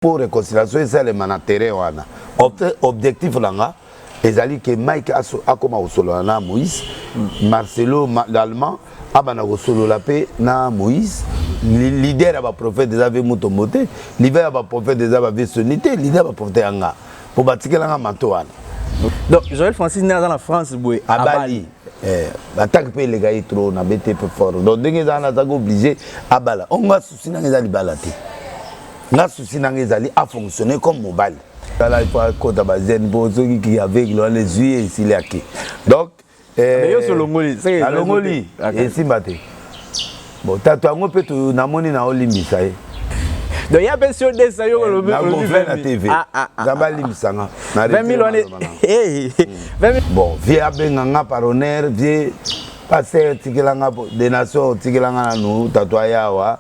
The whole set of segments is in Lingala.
mpo reconciliation esalema na terrain wana objectif na nga ezali ke mike akoma kosolola na moïse mm. marcelo l'allemand abanda kosolola mpe na moïse leader ya baprofete eza ve mutombo te leader ya baprofete eza bave soni te leader ya baprofete ya nga mpo batikelanga manto wana donc joel francis nde aza na france boye abali Eh, bataki mpe eleka ye trop na bete mpe fort donc ndenge eza wana azaki oblige abala ongo asusi nanga eza libala te nga souci nanga ezali a fonctionner comme mobali tala ipo akota bazene mpo soki ki aveugle wana ezwi ye esili ake donc eh, yo solongoli alongoli esimba te bon tato yango mpe namoni na olimbisa ye donc ya mpe sio desa yo olobi na tv ah, ah, ah, nzambe alimbisa nga na 20000 wana eh, eh, bon vie abenga nga par honneur vie paster tikela nga denation tikela nga nanu tato ayawa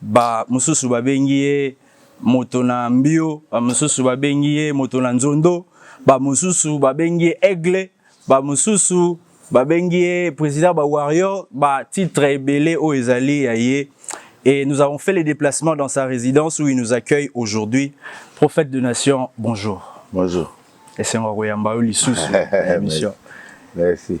Ba mosusu babengi ye moto na mbio, ba mosusu babengi ye moto na nzondo, ba mosusu babengi ye aigle, ba mosusu babengi ye président ba warrior, ba titre ebele oyo ezali ya ye. Et nous avons fait les déplacements dans sa résidence où il nous accueille aujourd'hui. Prophète de nation, bonjour. Bonjour. Esengo ya koyamba yo lisusu na emission. Merci.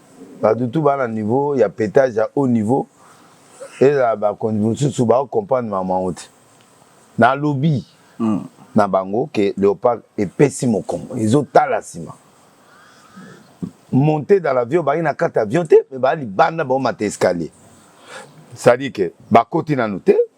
Batu tout ba na niveau ya petage ya haut niveau ezala ba konzi mususu ba comprendre makambo yango te. Na lobi na bango que leopard epesi mokongo ezo tala sima. Monte dans l'avion ba ye na kati avion te mais ba libanda bao mata escalier. C'est à dire que ba koti nanu te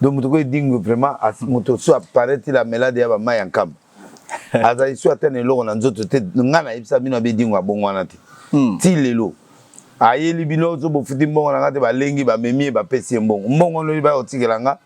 donc moto ko edingwe vraiment moto so apparaît il amelade ya bamai ya nkamba azali so ata na eloko na nzoto te ngai nayebisa bino abe edingwe abongo wana te hmm. ti lelo ayeli bino so bofuti mbongo na ngai te balengi bamemi ye bapesi ye mbongo mbongo wana oyebi bayotikela ngai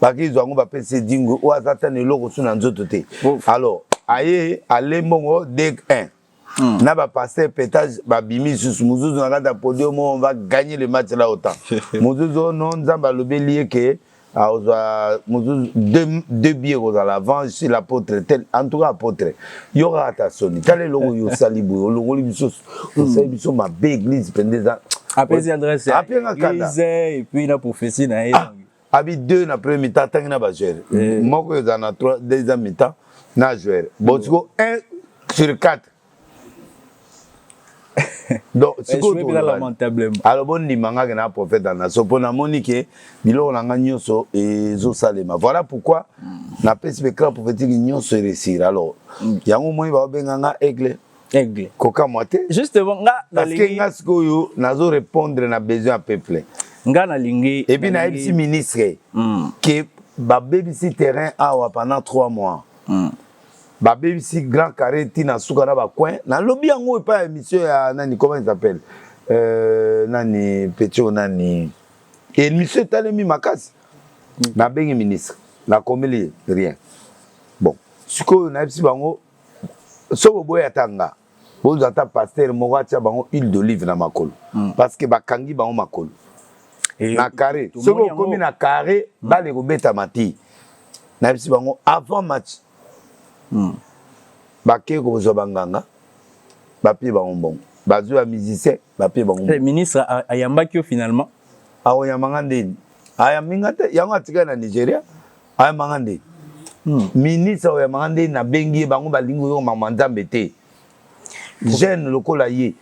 bakizwa yango bapesi edingwe oyo aza ata na eloko so na nzoto te alors aye ale mbongo deg 1 Hmm. na ba pasteur petage babimi lisusu mozuzu na kati ya podium on va gagner le match là autant mozuzu oh no nzambe alobeli ye ke akozwa ah, mozuzu deux bie ekozala avant si l'apôtre tel en tout cas apôtre yo kaka ta soni tala eloko yo osali boye olongoli biso hmm. osali biso mabe église mpenza eza apesi adresse ya église et puis na prophétie na ye ah. abi deux na premier mi-temps atangi na ba joueur eh. moko eza na trois deuxième mi-temps na joueur bon mm. siko un sur quatre donc sikoalor bondima nga ke na prophète ya naso mpo namoni ke biloko na nga nyonso ezosalema voilà pourquoi mm. napesi becran prophétique nyonso eresir alors mm. yango omoni baobenga nga aigle aigle kokamwa te justement nga parce que nga sikoyo nazo répondre na besoin ya peuple nga nalingi et puis nayebisi ministre mm. que babebisi terrain awa pendant trois mois mm. babebisi grand carré ti na suka na bacoin nalobi yango epai ya émission ya nani comment il s'appelle euh, nani petit oyo nani émission etalemi makasi mm. nabengi ministre nakomeli rien bon sikoyo nayebisi bango soki oboyi ata nga bozwa ata pasteur moko atia bango huile d'olive na makolo mm. parce que bakangi bango makolo Et na carré soki okomi na carré mm. bale ekobetama te nayebisi bango avant match mm. bakei kozwa banganga bapie bango mbongo bazwi ya musicien bapie bango eh, ministre ayambaki yo finalement akoyamba nga ndeni ayambi nga te yango atikali na nigeria ayamba nga nde hmm. ministre oyo ayamba nga nde nabengi ye bango balingi koyoka makambo ya nzambe te jeune lokola ye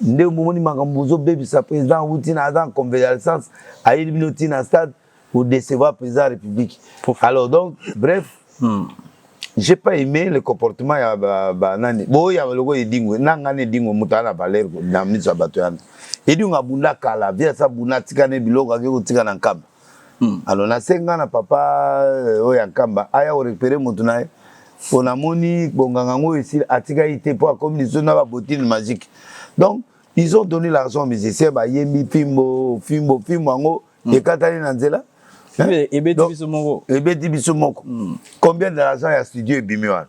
nde omoni makambo ozobebisa président awuti na aza en convalescence ayeli bino ti na stade odecevoir président ya république alors donc bref hmm. j'ai pas aimé le comportement ya banani boye ya lokola edingwe na ngani edingwe moto ana valeur na miso ya bato yana edingwe abunda kala viasa abunda atikane biloko ake kotika na nkamba Hmm. Alors na senga na papa euh, oyo ya Nkamba aya ko récupérer moto na ye mpo namoni bonganga yango esili atikaki te mpo akomi lisusu na babotine magique donc ils ont donné l'argent aux musiciens bayembi fimbo fimbo fimbo yango hmm. ekatani na nzela ebeti biso moko ebeti biso moko combien de l'argent ya studio ebimi wana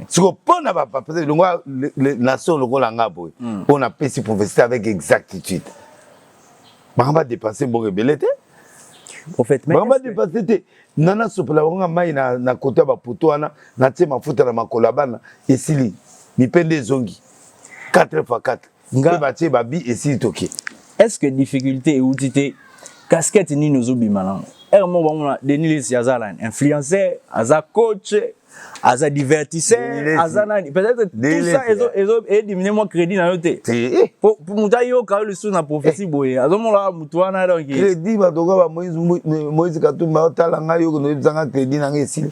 siko mpo na bapapete longwa nation lokola nga boye hmm. mpo napesi prophétie avec exactitude bango badepense mbongo ebele te bango badepense te nga nasopela bango nga mai na kote ya bapoto wana natie mafuta na makolo ya bana esili mipende ezongi 4 fois 4 nga batie babi esili toke est ce que difficulté euti te casquette nini ozobima nango ere moko bamona denis lesi aza nani influenceur aza coach aza divertisseur aza nani peut-être tout ça ezo ezo edimine moi crédit na yo te po moto ayoka yo lisusu na prophétie boye azomona moto wana donc crédit bato oka ba moïse moïse katumba otala ngai yo konoyebisa ngai crédit na ngai esili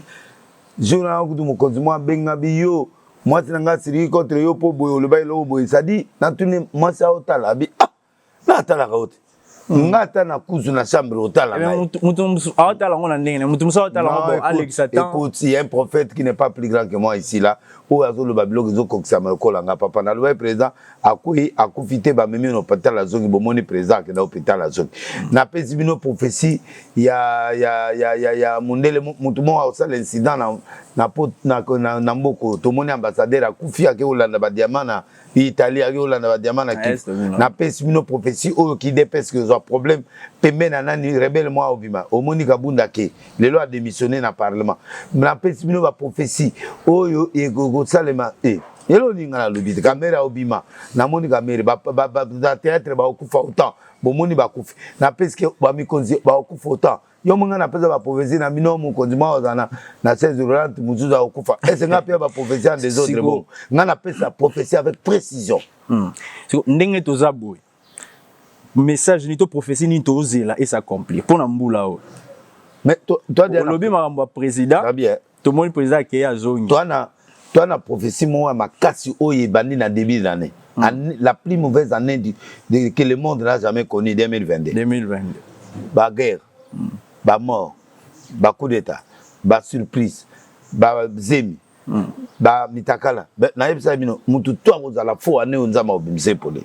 jour na kutu mokonzi mwa abenga biyo mwasi na ngai asiliki contre yo mpo boye oloba eloko boye sadi natuni mwasi aotala abi ah na atalaka yo te hmm. nga ata na kuzu na chambre otala eh aotala yango na ndenge moto mosusu aotala yango alekisa temps écoute il y a un prophète qui n'est pas plus grand que moi ici là oyo azoloba biloko ezokokisama lokola nga papa nalobaki président akweyi akufi te bamemi na hopital azongi bomoni président akenda hopital azongi napesi bino prophetie ya, ya, ya, ya, ya mondele motu moko akosala incident na, na, na, na, na mboko tomoni ambassadeur akufi ake kolanda badiama na italie ake kolanda badiama na kif napesi bino prophetie oyo kidps kozwa problème pembe na nani rebele mwa obima omoni kabunda ke lelo ademissionne na parlement napesi bino baprophetie oyo ekosalema e eh. yele olinga nalobi te kamere aobima namoni kamere na théâtre baokufa autant bomoni bakufi napeske bamikonzi baokufa autant yo monga napesa baprofesi na bino mokonzi mwa ozana na 16 rolante mosusu aokufa ese ngai mpe baprofesi ya desordre bongo ngai napesa profesi avec précision hmm. ndenge toza boye message nini to prophetie nini tozela e s'accomplir mpo na mbula oyo mais olobi makambo ya président tomoni président akei azongi toi na prophétie moko ya makasi oyo ebandi na début de l'année mm. la plus mauvaise année du, de, que le monde n'a jamais connu 2022 2022 ba guerre mm. ba mort ba coup d'état ba surprise ba zemi hmm. ba mitakala nayebisaka bino mutu to akozala fo ane oyo nzambe akobimisa epole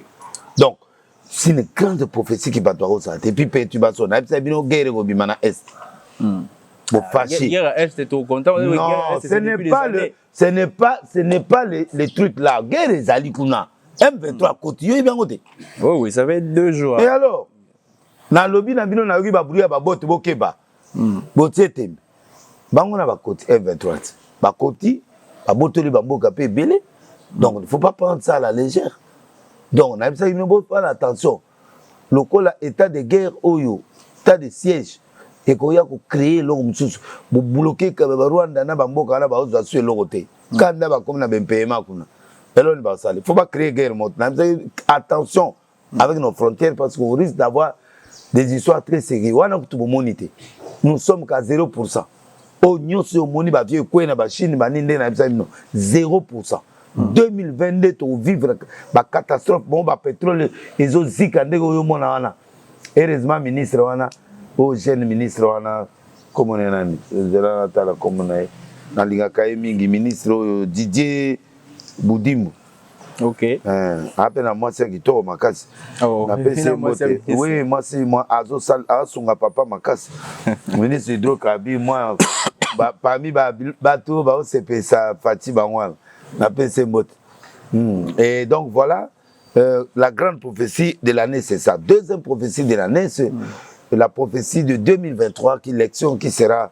donc si une grande prophétie ki bato akozala te epuis perturbation nayebisaka bino guerre ekobima na est hmm. bofashi non ce n'est pas le ce n'est pas ce n'est pas les, les trucs là guerre ezali kuna M23 akoti yo yebi yango te oh oui ça fait deux jours et alors nalobi na bino nayoki babruit ya babote bokeba mm. botie tembe bango na bakoti M23 ti bakoti babotoli bamboka mpe ebele donc il faut pas prendre ça à la légère donc nayebisaki bino bofana attention lokola état de guerre oyo état de siège ekoya kocree eloko mosusu bobloke barwanda na bamboka wana baozwa su eloko te mm. kanda bakomi na bempeyema kuna eloni basali fo bacree guerre moto nayebisaki attention avec nos frontières parce qu'on risque d'avoir des histoires très sérieuses wana kutu bomoni te nous sommes qu'à 0 pourcent oyo nyonso oyo omoni bavieux ekwei na bachine banini nde nayebisa bino 0 pourcent 2022 tovivre bacatastrophe bango bapetrole ezozika ndenge oyo omona wana heureusement ministre wana oyo jeune ministre wana komona nani ezela natala komona ye nalingaka ye mingi ministre oyo didier budimbu Okay. Eh, ape na mwasi ya kitoko makasi oh, napesi ye mbote oui mwasi azosunga papa makasi ministre hydrocarbi mwa parmi bato baosepesa fati bango wana napesi ye mbote hmm. et donc voilà euh, la grande prophétie de l'année c'est ça deuxième prophétie de l'année c'est mm. la prophétie de 2023 qui l'élection qui sera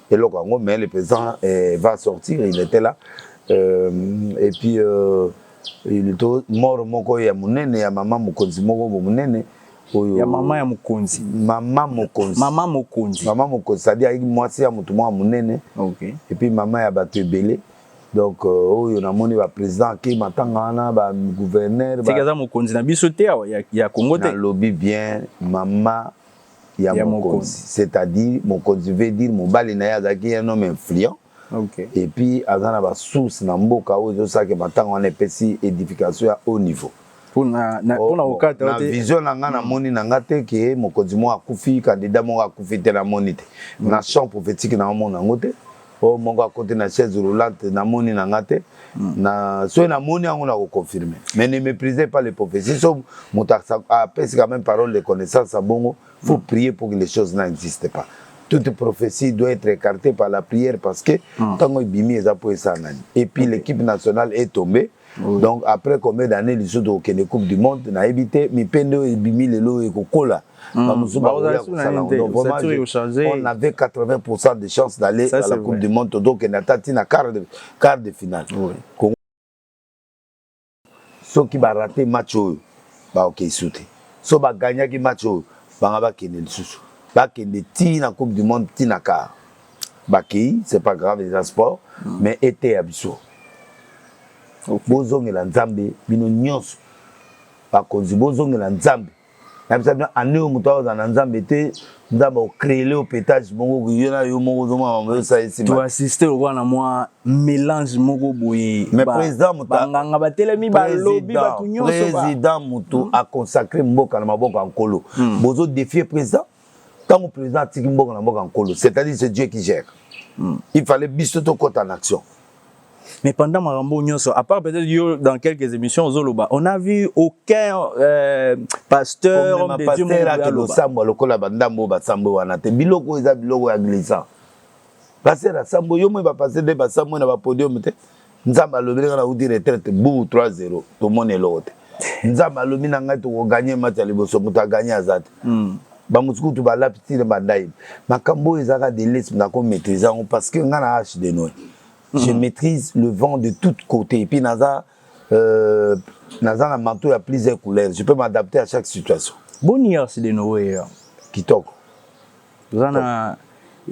eloko yango mais le président eh, va sortir il était là euh, et puis euh, il to mort moko ya munene ya mama mokonzi moko bo munene oyo ya mama ya mokonzi mama mokonzi mama mokonzi mama mokonzi c'est-à-dire ayiki mwasi ya motu moko munene okay. et puis mama ya bato ebele donc euh, oyo oh, namoni baprésident akei matanga wana bagouverneur soki aza mokonzi na biso te ya, ya congo te nalobi bien mama ya mokonzi c'est à dire mokonzi veut dire mobali na ye azalaki un homme influent okay. et puis aza na ba source na mboka oyo ezosaki matango wana epesi edification ya haut niveau pona na oh, pona okata na vision na nga na moni na nga te ke mokonzi mo akufi candidat mo akufi te na moni te na champ prophétique na omona ngo te oyo moko akoti na chaise roulante namoni na nga te hmm. na soki namoni yango na koconfirme mais ne méprisez pas les prophéties so moto apesi quand même parole de connaissance ya bongo faut hmm. prier pour que les choses n'existe pas toute prophétie doit être écartée par la prière parce que hmm. ntango ebimi eza mpo esala nani et puis l'équipe nationale est tombée Oui. Donc après combien d'années lisusu tokokende coupe du monde nayebi te mipende oyo ebimi lelo oyo ekokola mm. bamosusu bakoya kosala on avait 80 de chance d'aller à la coupe vrai. du monde tozokende ata ti na quart de, quart de finale oui. Congo... soki barate match oyo baokei okay, su te so bagagnaki match oyo banga bakende lisusu bakende ti na coupe du monde ti na quart bakei c'est pas grave eza sport mm. mais eteya biso okay. bozongela nzambe bino nyonso bakonzi bozongela nzambe nabisa bino ane oyo moto akozala na nzambe te nzambe ocreele yo petage moko yo na yo moko ozomaaosaesiassiste lokola na mwa mélange moko boye banganga batelemi balobi bato nyonso président moto aconsacre mboka na maboko ya nkolo hmm. bozodefie président ntango président atiki mboka na mboka nkolo c'est-à-dire c'est Dieu qui gère hmm. il fallait biso tokota en action mais pendant Marambo Nyoso, à part peut-être yo dans quelques émissions Zoloba, on a vu aucun euh, pasteur homme de Dieu mon pasteur le sambo lokola bandambo ba sambo wana te biloko eza biloko ya glissant. Pasteur sambo yo mo ba pasteur de ba sambo na ba podium te. nzambe alobeli nga nauti retraite buu 3 0 tomoni eloko te nzambe alobi na ngai tokoganye mati ya liboso moto aganye aza te hmm. bamosusu kutu balapi ti na bandai makambo oyo ezalaka delisme nako maîtrise yango parce que ngai na age de noe hmm. je maîtrise le vent de tout côté epuis naza euh, naza na manteau ya plusieurs couleurs je peux m'adapter à chaque situation boni age de noe kitoko toza na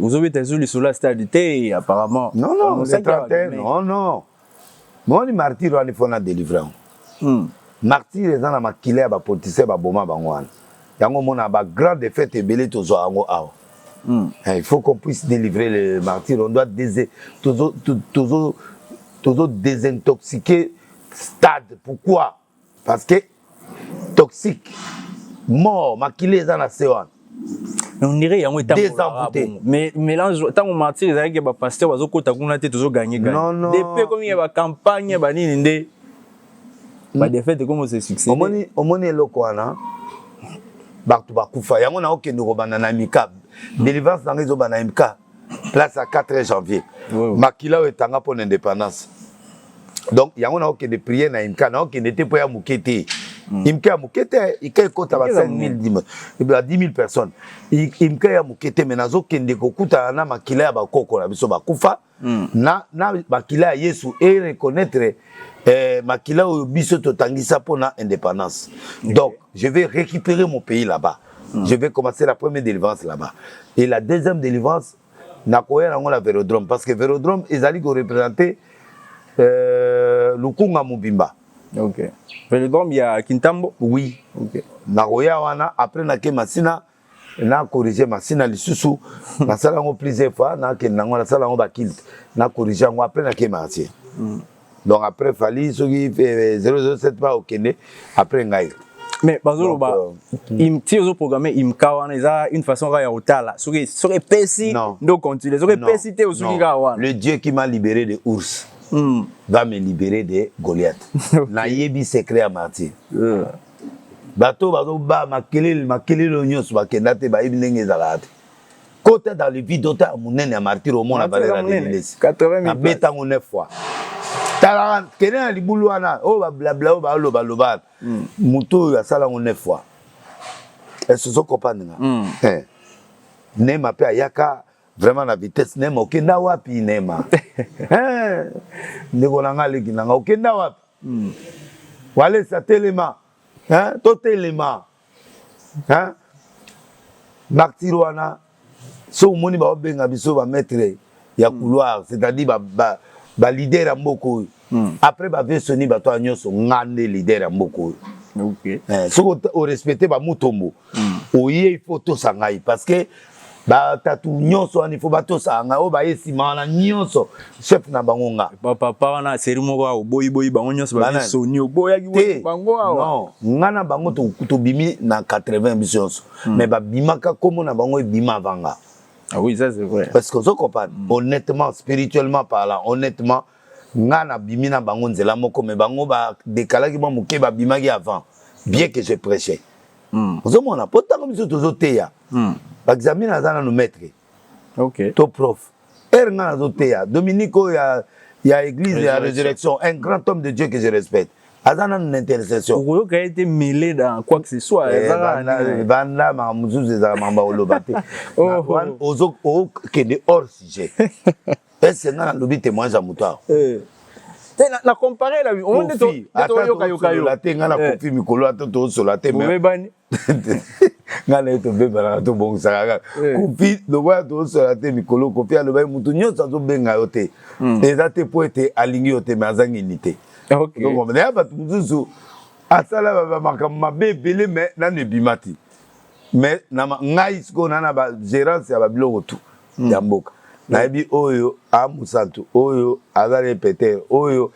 ozobeta ezo lisolo ya stade te apparemment non non le 31 non non moni martyr wana ifo na délivre yango hmm. martyr eza na makila ya bapolitisien baboma bango wana yango omona bagrand défaite ebele tozwa yango awa hmm. eh, il faut qu'on puisse délivrer le martyr on doit tozo désintoxiquer stade pourquoi parce que toxique mort makila eza na se wana on dirait yango etambolaka mais mélange ntango martyr ezalaki ya bapaster bazokota kuna te tozoganye ganyedp komi ya bacampagne banini nde badefete ekomi ose succès omoni eloko wana bato bakufa yango naokende kobanda na mikabe délivrance na ngai ezobanda na mikabe place ya 4 janvier makila oyo etanga mpo na indépendance donc yango naokende priere na imka naokende te mpo ya moke te hmm. imka ya moke te ika ekota ba 5000 eh personnes imka ya moke te me nazokende kokutana na makila ya bakoko na biso bakufa hmm. na, na makila ya yesu e reconnaître eh, makila oyo biso totangisa mpo na indépendance donc je vais récupérer mon pays là-bas Mm. Je vais commencer la première délivrance là-bas. Et la deuxième délivrance, nakoya nango na Vélodrome parce que Vélodrome ezali ko représenter euh, Lukunga mobimba. OK. Vélodrome ya Kintambo? Oui. OK. Nakoya wana après na ke Masina na corrige Masina lisusu nasala yango plusieurs fois na ke nango nasala yango ba kilt na corrige yango après na ke Masina. Mm. donc après fali soki 007 eh, pa okende après ngai mais bazoloba euh, ti ozoprogramme imka wana eza une façon kaka ya kotala soki soki epesi nde ocontinue soki epesi te osuki kaka wana le dieu qui m'a libéré de ours mm. va me libérer de goliath okay. nayebi secret ya martyr euh. bato bazobaa makelele makelele oyo nyonso bakenda te bayebi ndenge ezalaka te kota dans le vide otala monene ya martyr omona valeur ya delilesi abeta yango 9 fois tala kende na libulu wana oyo bablabla oyo baoloba loba wana hmm. moto oyo asala yango 9 fois ese ozo comprendre nga hmm. eh. nema mpe ayaka vraiment na vitesse nema okenda wapi nema eh. ndeko na nga aleki na nga okenda wapi hmm. walesa telema eh, totelema hein martyr wana so omoni ba obenga biso ba maître ya hmm. couloir c'est-à-dire ba, ba ba leader ya mboka oyo hmm. après ba vieux soni bato ya nyonso nga nde leader ya mboka oyo okay. eh, soki orespecte bamutombo hmm. oye il faut tosa ngai parce que batatu nyonso wana ifo batosaka ngai oyo baye nsima wana nyonso chef na bango nga papa wana seri moko awa oboyiboyi bango nyonso basoni oboyaki bango awa nga na bango tobimi na 80 biso nyonso hmm. mais babimaka nkombo na bango ebima avanga ah oui ça c'est vrai parce que ozo comprendre hmm. honnêtement spirituellement parlant honnêtement nga nabimi na bango nzela moko mais bango badekalaki mwa moke babimaki avant bien que je prêchais hmm. ozomona mpo ntango biso tozoteya Hmm. Baxami naza nanu maître. OK. To prof. Heure nga nazo teya Dominico ya ya église ya résurrection, un grand homme de Dieu que je respecte. aza nanu na intercession okoyoka ye te mele dans quoi que ce soit eh, ezakabanda makambo mosusu ezala makambo oloba te okende hors sujet ese nga nalobi témoignage ya moto awa eh. te na compare la omoni nde toyokayoka yo te nga na eh. kofi mikolo ata tosola te mebani ngai na ye tobebanaka tobongisaka kaka eh. kopi lokola tozosola te mikolo kopi alobaki motu nyonso azobenga yo te hmm. eza te mpo ete alingi yo te me azangi unité na ya bato mosusu asala bamakambo mabe ebele me nano ebima te me ngai sikoyo na na bagérance ya babiloko tu mm. ya mboka nayebi oyo a mosantu oyo aza na epetere oyo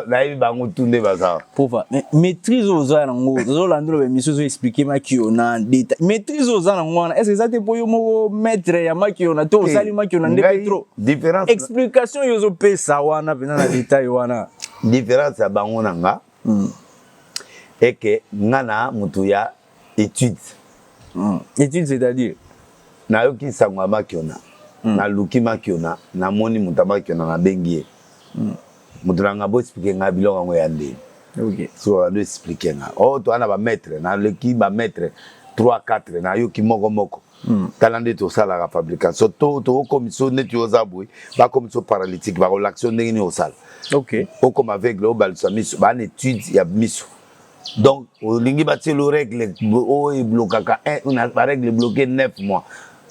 nayebi bango tu nde baza pova maîtrise oyo oza yango ozolanda loba émission ozo explike makio na deta maîtrise oyo oza nango wana est ce eza te mpo yo moko maître ya makio na to osali eh, makio na nde pe trop différence explication oyo ozopesa wana mpenza na detail wana différence ya bango na nga hmm. eke nga na motu ya etude mm. etude c'est-à-dire nayoki nsango ya makiona mm. naluki makiona namoni moto ya makiona nabengi ye mm. moto na ngai boexplike ngai biloko yango ya ndeni okay. so ando explike ngai o oh, toa na bamaitre naleki bamaitre 3 4 nayoki moko moko mm. tala nde tosalaka fabrication to tokokomiso neti oza boye bakomiso paralytique bakolakisa ndenge nini osala okay. okoma aveugle obalisa miso bana etude ya miso donc olingi batielo règle oyo eblokaka barègle bloke 9 mois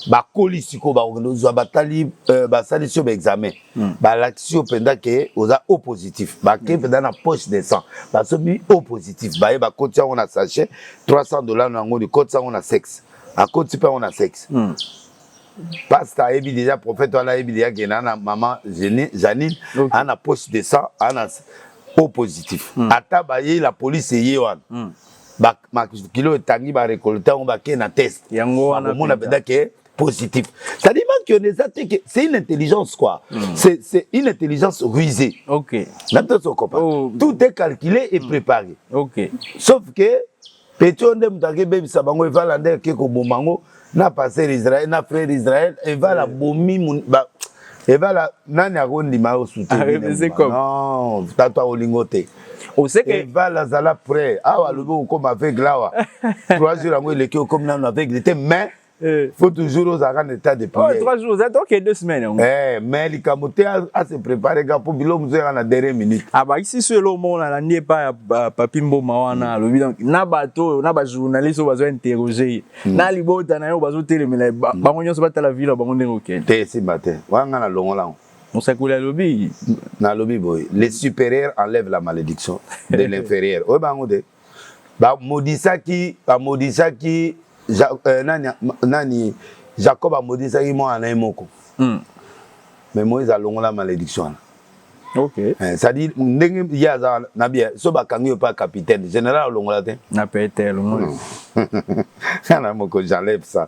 bakoli sikoyo bakokende ozwa batali euh, basalisi yo baexamen hmm. balakisi yo mpenza ke oza o positif bake hmm. mpenza na poche de sang basobi o positif baye bakoti yango na sachet 300 dollar na yango likotisa yango na sexe akoti mpe yango na sexe hmm. pasta ayebi deja prophète wana ayebi deja ke na na maman Janine okay. ana poche de sang ana au positif mm. ata baye la police eye wana mm. makilo etangi barekolte yango bakei na test yango wana komona mpenza ke positif cetadi manki on eza te ke c'est une intelligence quoi mm. c'est, c'est une intelligence rusée okay. na biso tokopa oh. tout est calculé et mm. préparé okay. sauf que Petit oyo nde moto akebebisa bango evala nde ake koboma yango na paster israel na frere israel evala eh. bomi evala nani akondima yo soutennon tata olingo te evala azala prêt awa alobi okoma aveugle awa trois jours yango eleki okomi nano aveugle te mais Eh. faut toujours ozalaka na état de prière trois jours ozali toke deux semaines yango eh, mais likambo te ase prépare ka mpo biloko mosusu yaka na dernier minute abakisi ah, so eloko moko nalandi epai ya papi mboma wana hmm. alobi donc na bato oyo na bajournaliste oyo bazo interroge ye hmm. na libota na ye oyo bazotelemela hmm. bango nyonso batala vilo bango ndenge okende te esimba te wana ngai nalongola yango mosakoli alobi nalobi boye le supérieur enlève la malédiction de l'inférieur oyo bango te bamodisaki bamodisaki ja, eh, nani, nani jacob amodisaki mwana na ye moko mm. mais moïse alongola malédiction wana okay. eh, cestadire ndenge ye aza na bia so bakangi yo mpa capitaine général alongola te na pete alongoli ana moko j'enlève ça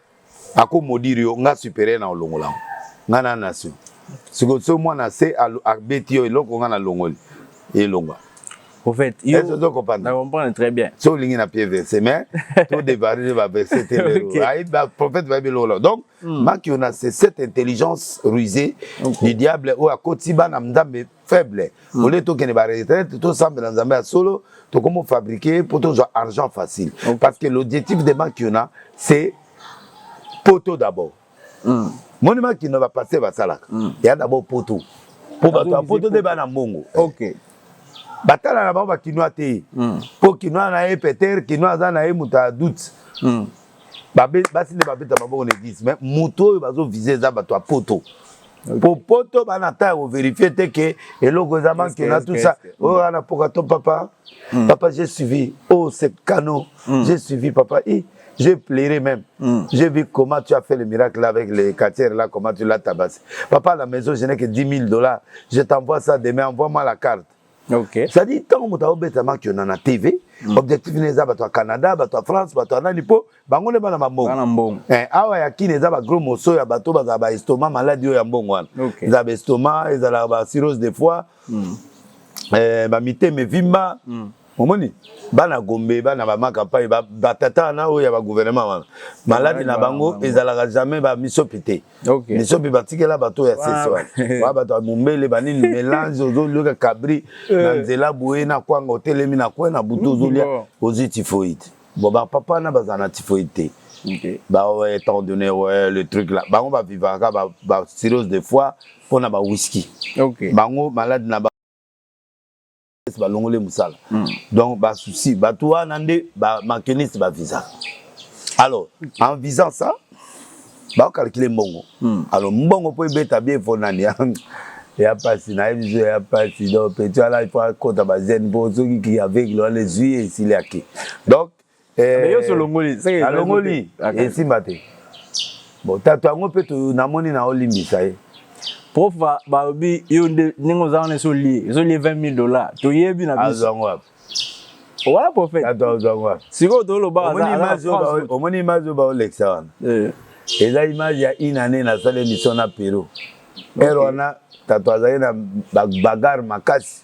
ako modiri yo nga superieur na olongola ngo nga na nation siko so mwana se abeti yo eloko nga na longoli elonga au fait yo eh, to comprendre na comprendre très bien so lingi na pied verse mais to dévarer ba verse te le ay ba prophète ba bilolo donc hmm. maki on a cette intelligence rusée du diable ou à kotiba na mdambe faible mm. au lieu tokende ba retraite tosambela nzambe ya solo tokomi fabriquer mpo tozwa argent facile okay. parce que l'objectif de makiona c'est poto d'abord mm. moni makiona bapaster basalaka mm. ya d'abord poto mpo bato ya poto nde bana mbongo okay. batala na bango bakinois te mpo mm. kinois na ye peter kinois aza na ye moto ya doute mm. basi nde babeta maboko na eglise mais moto oyo bazovise eza bato ya poto po poto bana ta ya koverifie te ke eloko eza manke na tout ça oyo oh, ana poka to papa hmm. papa j'ai suivi oh c'est canon hmm. j'ai suivi papa i j'ai pleuré même hmm. j'ai vu comment tu as fait le miracle avec les quartiers là comment tu l'as tabassé papa à la maison je n'ai que 10 000 dollars je t'envoie ça demain envoie-moi la carte Okay. C'est-à-dire ntango moto aobeta mark yona na TV mm. objectif ne eza bato ya Canada bato ya France bato ya nani mpo bango nde bana bambongo eh, awa ya kini eza bagros moso ya bato bazala baestoma maladi oyo ya mbongo wana okay. ezala baestoma ezalaka basirose de foi mm. eh, bamitema evimba mm. omoni bana gombe bana bamaka mpai batata wana oyo ya bagouvernement wana maladi na bango ezalaka jamais bamisopi te Okay. Biso mpe batikela bato ya sese wana. Ba bato ya mombele banini melange ozolioka kabri na eh. nzela boye na kwanga otelemi na kwe na butu ozolia ozwi tifoide. Bon ba papa na bazala na tifoide te. Okay. Ba ouais, étant donné ouais, le truc là. Bango ba vivaka ba, ba cirrhose de foie mpo na ba whisky. Okay. Bango malade na ba Est balongole musala mm. donc ba souci bato wana nde ba makeniste ba visa alors en visant ça ba calculer mbongo mm. alors mbongo po ebeta bien fo nani ya pasi na biso ya pasi donc petit ala il faut akota ba zen po soki ki aveugle wana ezui ye esili ake donc Eh, mais yo so longoli seke na longoli esimba te bon tato yango mpe namoni na olimbisa ye prof balobi yo nde ndenge oza wana eso lie eso lie 20 000 dollars toyebi na biso azwango wapi wana prophète tato azwango wapi sikoyo toloba omoni image oyo baolekisa wana eh. eza image ya une année nasala émission na pero ere wana tato azali na bagare makasi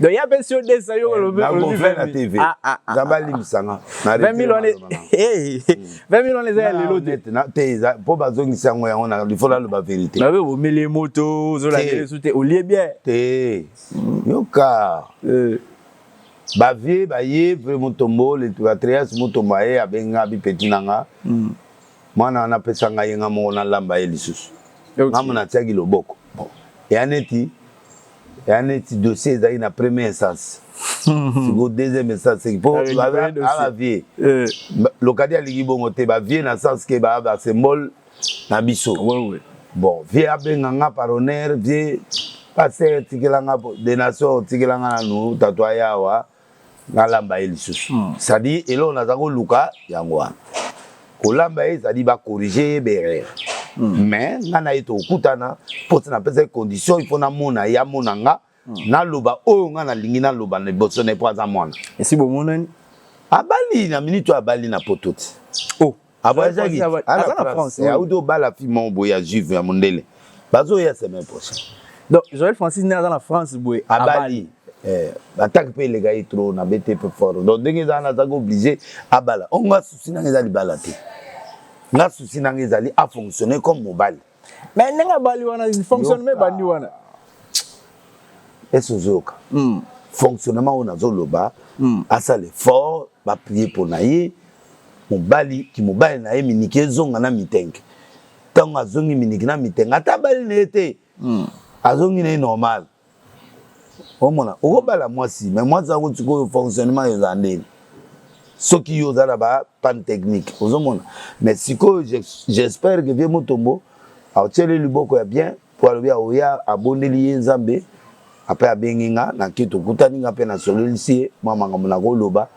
donc ya pesi yo desa yo olobi olobi 20 000 ah ah ah nzambe alimisa nga na 20 000 wana eh 20 000 wana eza ya lelo te na te eza po bazongisa yango yango na il faut la loba vérité na be omele moto ozola kele su te olie bien te yoka euh ba vieux ba ye pe mutombo le patrias mutombo aye abenga bi petit nanga hmm. mwana wana apesa ngai nga moko nalamba ye lisusu ngambo natiaki loboko ya neti ya neti dossier ezalaki na premier instance siko deuxième instance seki po aa vie lokadi alingi bongo te ba vie na sens ke baa ba symbole na biso bon vie abenga nga par honneur vie pasteur tikela nga de nation tikela nga nanu tatu aya awa nalamba ye lisusu mm. c'est-à-dire eloko naza koluka yango wana kolamba ye ezali bakorige ye berere mm. mais ngai na ye tokutana mpo ti napesaki condition ifo namona ye amona nga mm. naloba oyo ngai nalingi naloba na liboso na ye mpo aza mwana esi bomonani abali na minute oyo abali na poto ti oh. avoyagaki aza na france auti obala fi moko boye ya juve ya mondele bazoya semaine prochaine donc joel francis nde aza na france boye abali eh, bataki mpe eleka ye trop na bete mpe fort donc ndenge eza wana azaki oblige abala onga susi nanga eza libala te nga susi nanga ezali afonctionne comme mobali Mais ndenge abali wana fonctionnement ebandi wana. Eso zoka. Mm. Fonctionnement oyo nazoloba mm. asala effort ba prier mpo na ye mobali kimobali na ye miniki ezonga na mitenge ntango azongi miniki na mitenge ata abali na ye te mm. azongi na ye normal omona okobala mwasi me mwasi yango sikoyo fonctionnement eza ndeni soki yo oza na ba panne technique ozomona me sikoyo j'espère que vie motombo aotyeli liboko ya bien po alobi aoya abondeli ye nzambe ape abengi nga nake tokutani nga mpe nasololisi ye mwa makambo nakoloba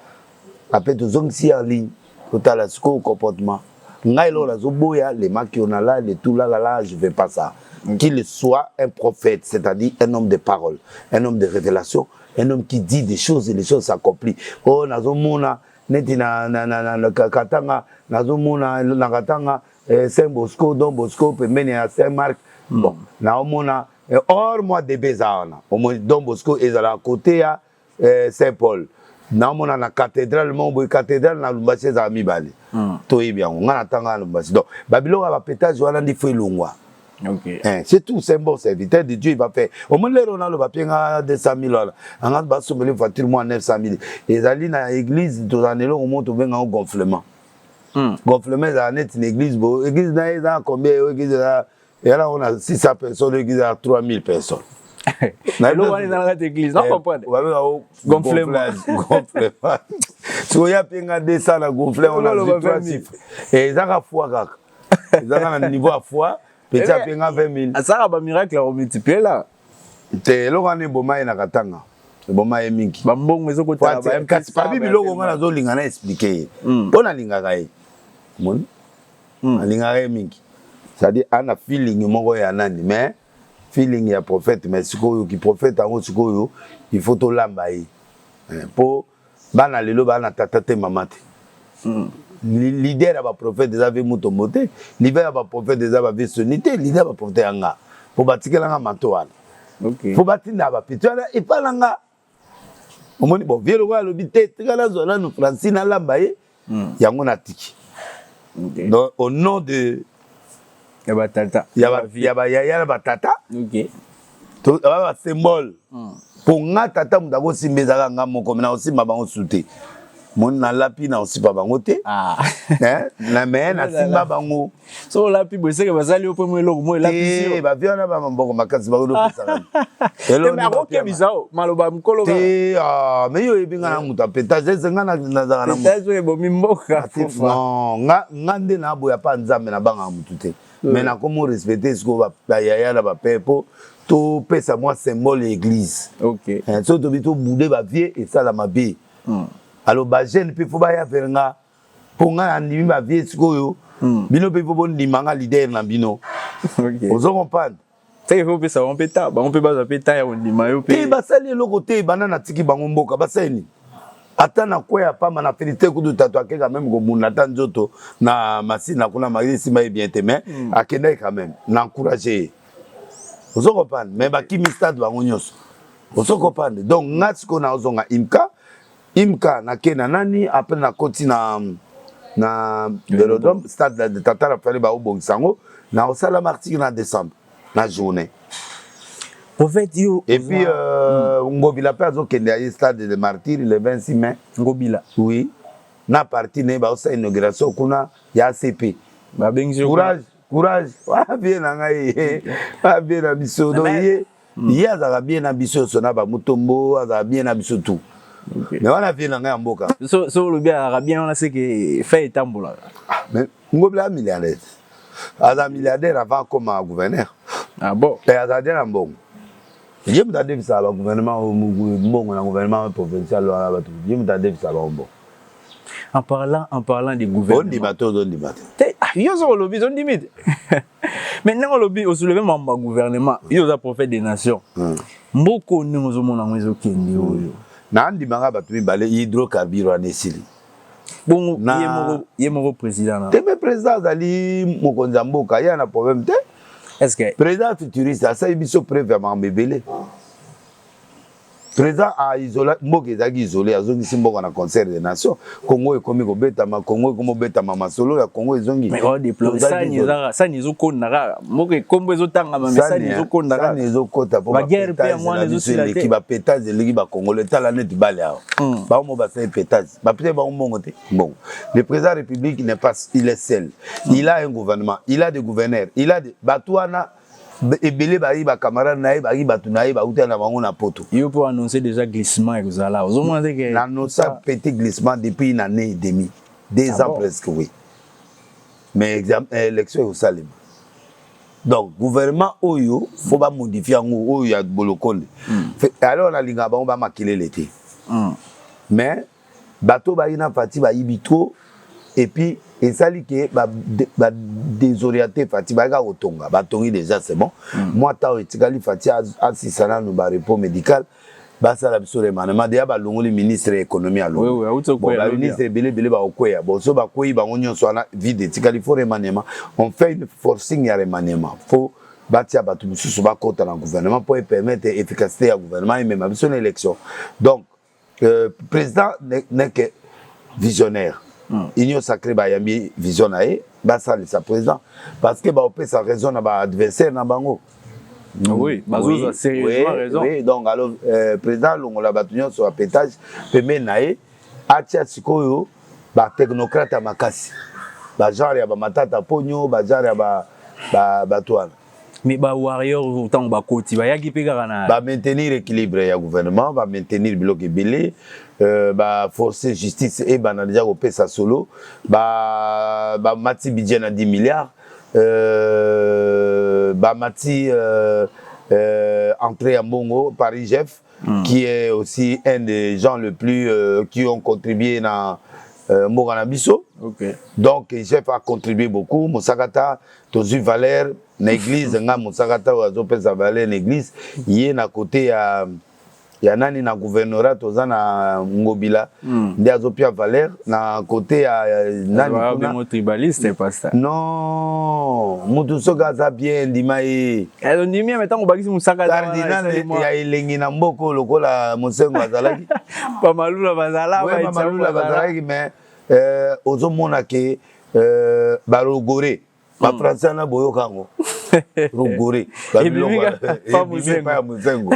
Après tozongisi ye en ligne totala sikoyo comportement ngai eloko nazoboya le makionala le tulalala je veux pas ça qu'il soit un prophète c'est-à-dire un homme de parole un homme de révélation un homme qui dit des choses et les choses s'accomplissent oh nazomona neti na, na, na, na, na katanga nazomona na katanga eh, saint bosco don bosco pembeni ya saint marc bon naomona eh, or mwa debe eza wana omoni don bosco ezala kote ya eh, saint paul naomona na cathédrale moko boye cathédrale na lumbasi ezala mibale hmm. toyebi yango ngai natanga na lumbasi donc babiloko ya bapetage wana ndi fo elongwa Okay. Eh, c'est tout, c'est un bon serviteur de Dieu, il va faire. Au moins, les Ronaldo va payer 200 000 dollars. On a bassé une voiture, moi, 900 000. Et allés dans l'église, tout en élo, on monte au bien en gonflement. Mm. Gonflement, c'est une église, église, n'a combien, église, eyala ngo na 600 personnes eglise ya 3000 personnes eloko wana eza na kati eglise na eh, comprendre babeka o gonflement sikoyo ya mpe nga 200 na gonflement ona zwi 3 chiffre eh, ezaka foi kaka ezaka na niveau ya foi peti eh, apenga 20 mille asaka bamiracle ya komultiplier la te eloko wana eboma ye na katanga eboma ye mingi bambongo ezokotala kasi pabi biloko nga nazolinga na explike ye mpo hmm. nalingaka ye moni Hmm. Alingaka ye mingi. C'est-à-dire ana feeling moko ya nani mais feeling ya prophète mais sikoyo ki prophète yango sikoyo il faut tolamba ye eh, mpo bana lelo baa na tata te mama te hmm. leader ya baprophète eza ve mutombo te leader ya baprophète eza bave soni te leader ya baprophète ya nga mpo batikela nga manto wana mpo okay. batindaka bapito wana epa na nga omoni bon vie lokola alobi te tika nazwa nanu francine alamba ye hmm. yango natiki donc au nom de ya batata ya bayaya na batata ba symbole mpo hmm. nga tata moto akosimba ezalaka nga moko me nakosimba bango su te moni nalapi na osipa bango te ah. eh, na me oh nasimba bango so olapi boeseke basali yo mpe mo eloko mo elapisi bavi wana ba maboko makasi bakolopesaka akokebisa o maloba mikolo te ah, me yo oyebi ngai na eh. moto apetage ese ngai nazalaka na moto ebomi mboka nga nde naboya mpa nzambe nabangaka motu te me eh. nakomo respecte sikoyo bayaya na bape mpo topesa mwa symbole ya eglise okay. eh, so tobi tobude bavie esala mabe mm. alors ba jeune pe faut baya vers nga po nga nandimi ba vie sikoyo mm. bino pe faut bondima nga leader na bino okay. ozo comprendre seke faut pesa bango mpe ta bango mpe bazwa mpe ta ya kondima yo mpe basali eloko te banda natiki bango mboka basali nini ata na kwe ya pamba na filite kudu tatu akeka meme kobunda ata nzoto na masina kuna maye esimba ye bien te mais mm. akendaki quand même na encourage ye ozo comprendre mais bakimi stade bango nyonso ozo comprendre donc nga sikoyo nazonga imka imka nake na nani apres nakoti na na velodrome stade de tatara fale baobongisa yango naosala martire na décembre na journée prophète yo et puis euh, mm. ngobila mpe azokende ya ye stade de martyr le 26 mai ngobila oui na parti na ye baosala inauguration kuna ya acp babengisi courage courage wabie na ngai wabie na biso donc ye mm. ye azalaka bien na biso nyonso na bamutombo azalaka bien na biso tout okay. mais wana vie na ngai ya mboka so, so olobi azalaka bien wana seke fai etambolaka ah, mais ngobila milliardaire aza milliardaire avant akoma gouverneur ah, bon. e azala te na mbongo ye moto adefisaka bagouvernement mbongo na gouvernement provincial wana bato ye moto adefisaka bango mbongo en parlant en parlant de gouvernement ondima te ozondima te yo soko olobi ozondimi te mais ndenge olobi osoleve mambo ya gouvernement yo oza prophète des nations hmm. mboka oyo ndenge ozomona yango ezokende hmm. oyo nandimaka bato mibale hydrocarbure wana esili bongo ye moko président te me président azali mokonzi ya mboka ye ana problème te président futuriste asali biso preuve ya makambo ebele Président a isola mboka ezalaki isole azongisi mboka na concert des nations Congo ekomi kobetama Congo ekomi kobetama masolo ya Congo ezongi mais on déploie sani ezaka sani ezokonda kaka mboka ekombo ezotangama mais sani ezokonda kaka sani ezokota po ba guerre pe yango wana ezosila te ba pétage eleki ba congolais tala neti bale awa hmm. ba mo ba sali pétage ba pete ba mbongo te mbongo le président république n'est pas il est seul il a un gouvernement il a des gouverneurs il a des batuana ebele bayi ba camarade na ye bayi bato na ye bauta na bango na poto yo mpo annonce déjà glissement ekozala ozomona te ke na annonce petit glissement depuis une année et demi deux ah ans bon? presque oui mais exam, eh, élection ekosalema donc gouvernement oyo fo bamodifie yango oyo ya bolokonde hmm. alors nalingaka bango bamakelele te hmm. mais Bato oyo bayina Fathi bayibi trop et puis esali ke ba, ba desorienter Fathi baye kaka kotonga batongi deja c'est bon mm. mwa temps etikali Fathi asisa nanu ba repos médical basala biso remaniement deja balongoli ministre ya économie alongobaministre ebele ebele bakokweya bon so bakweyi bango nyonso wana vide etikali fo remaniement on fait une forcing ya remaniement fo batia bato mosusu bakota na gouvernement mpo epermettre efficacité ya gouvernement emema biso na élection donc euh, président n'est que visionnaire hmm. union sacrée bayambi vision na ye basalisa président parce que baopesa raison na baadversaire na bango hmm. oui bazozwa sérieusement raison oui donc alors euh, président alongola bato nyonso ya pétage pembeni na ye atya sikoyo batechnocrate ya makasi bagenre ya bamatata ponyo bagenre ya bato wana Mais ba warrior tango ba koti ba yaki pe kaka na ba maintenir équilibre ya gouvernement ba maintenir biloko ebele euh, ba forcer justice et bana déjà ko pesa solo ba ba mati budget na 10 milliards euh, ba mati euh, euh, entrée ya mbongo Paris Jeff mm. qui est aussi un des gens le plus euh, qui ont contribué na euh, mboka na biso okay. donc jeff a contribué beaucoup mosakata tozui valeur na eglise nga mosaka ta oyo azopesa valeur na eglise ye na kote ya ya nani na gouvernorat toza na ngobila mm. nde azopia valeur na kote ya nani kuna tribaliste pasta non mutu soki aza bien ndima ye ezo eh, ndimi ya metango bakisi musaka cardinal ya elengi na mboko lokola mosengo azalaki pamalula bazala pamalula bazalaki mais euh, ozomona ke Euh, ba logore ba hmm. français wana boyoka yango logore babiloko ya mosengo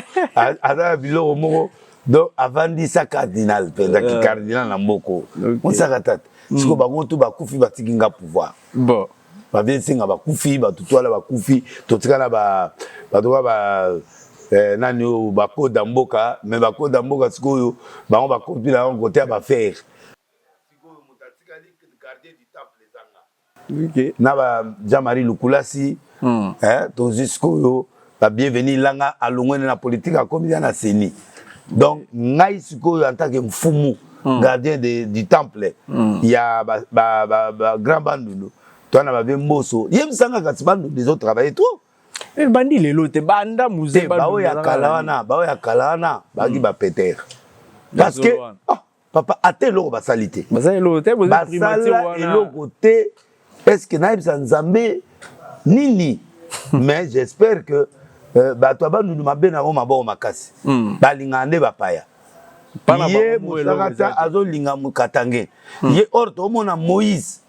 aza na biloko moko donc avandisa cardinal mpenza ki euh. cardinal na mboko mosaka tata hmm. siko bango tu bakufi batiki nga pouvoir bon baviensinga bakufi bato twala bakufi totikala bato ba, ba eh, nani oyo bakoda mboka me bakoda mboka sikoyo bango bakopila yango kote ya bafere na ba Jean Marie Lukulasi mm. eh, tozwi sikoyo ba bienvenu langa alongwene na politique akomi ya na seni donc ngai sikoyo en tant que mfumu mm. gardien de, du temple mm. ya ba, ba, ba, ba grand bandundu toa na babe mboso yebisanga kasi bandundu ezo travaille trop eh, bandi lelo te banda muze baoyo ya kala wana baoyo ya kala wana baki mm. bapetere parce que ah, papa ata eloko basali te basala eloko te boza primature basala wana eloko te eske nayebisa nzambe nini mais j'espère que euh, bato ya bandundu mabe na yango maboko makasi Hmm. balingaka nde bapaya Bana ye bango eloko eza mosakata te. azolinga mokatange ye or toomona moïse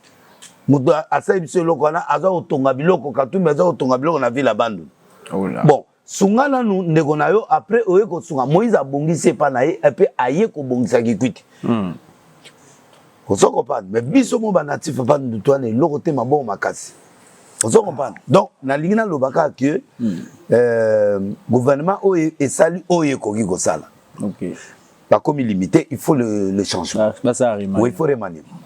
moto a- asali biso eloko wana aza kotonga biloko katumbi aza kotonga biloko na ville ya bandundu Oula. bon sunga nanu ndeko na yo après oye kosunga moïse abongisi epa na ye epe aye kobongisa kikwiti mm. ozo comprendre mais biso mo banatif epa ndutu wana eloko te mabongo makasi ozo comprendre donc nalingi naloba kaka ke mm. euh, gouvernement oyo esali oyo ekoki kosala okay. bakomi limite il faut le, le changement basa remaniement oui il faut remaniement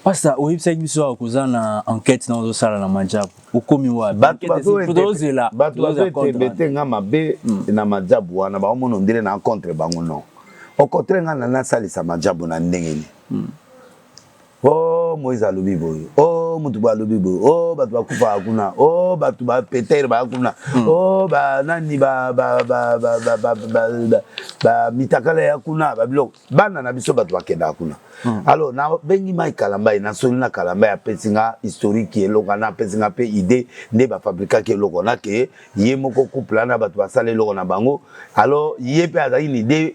pasta oyebisaki biso awa koza na enquête na ozosala na majabu okomi wapiozela bato bazoetembe te nga mabe hmm. na majabu wana baomona ondele na contre bango non okotre nga na nasalisa majabu na ndenge nini hmm. o moise alobi boye o motu boye alobi boye o bato bakufaka kuna o bato bapetere baya kuna hmm. o banani bamitakala ya kuna babiloko bana na biso bato bakendaka kuna hmm. alors nabengi mai kalambai nasoli na kalambai apesi nga historique eloko wana apesi nga mpe idée nde bafabrikaki eloko wana ke ye moko couple wana bato basala eloko na bango alors ye mpe azalaki na idée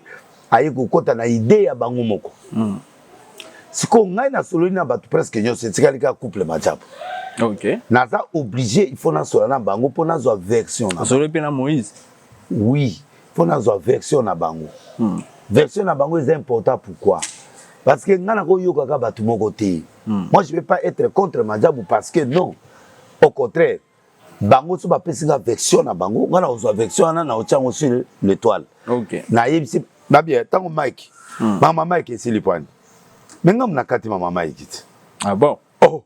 aye kokɔta na idée ya bango moko mm. sikoyo ngai nasololi na bato presque nyonso etikali kaka couple majabu okay. naza oblige il faut nasola na bango mpo nazwa version nasololi mpe na moïse oui mpo nazwa version na bango hmm. version na bango eza important pourquoi parce que ngai nakoyokaka bato moko te hmm. moi je vais pas être contre majabu parce que non au contraire bango so bapesi nga vection na bango nga nakozwa vection wana naotya yango sur l'étoile okay. nayebisi babia ntango mike hmm. mama mike esili pwani me ngambo na kati mama mike ti ah bon oh.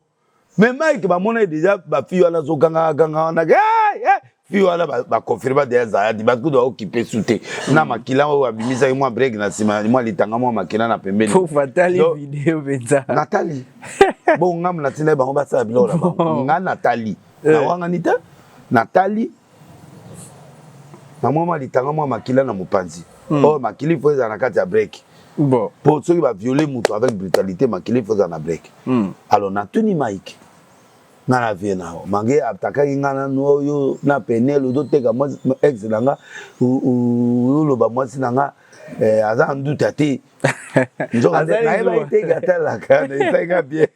me mike bamona ye deja bafi wana azogangaganga wana hey, eh, eh, hey. fi wana baconfirma deya zayadi bakuda okipe su te na hmm. makila oyo abimisaki mwa brek na nsima mwa litanga mwa makila na pembeni natali Bon ngamu na tina bango ba sala biloko na bango. Nga na tali. Eh. Na wanga ni te. Na tali. Na mwa mwa litanga mwa makila na mopanzi. Hmm. Oh makili faut ezala na kati ya break. Bon. Po soki ba violer moto avec brutalité makili faut ezala na break. Hmm. Alors na tuni Mike. nga na vie na yo mange atakaki nga nanu oyo oh, na penel ozoteka ex na nga oloba mwasi na nga eh, aza nduta te nzoka nayebaki te katalaka esali nga bien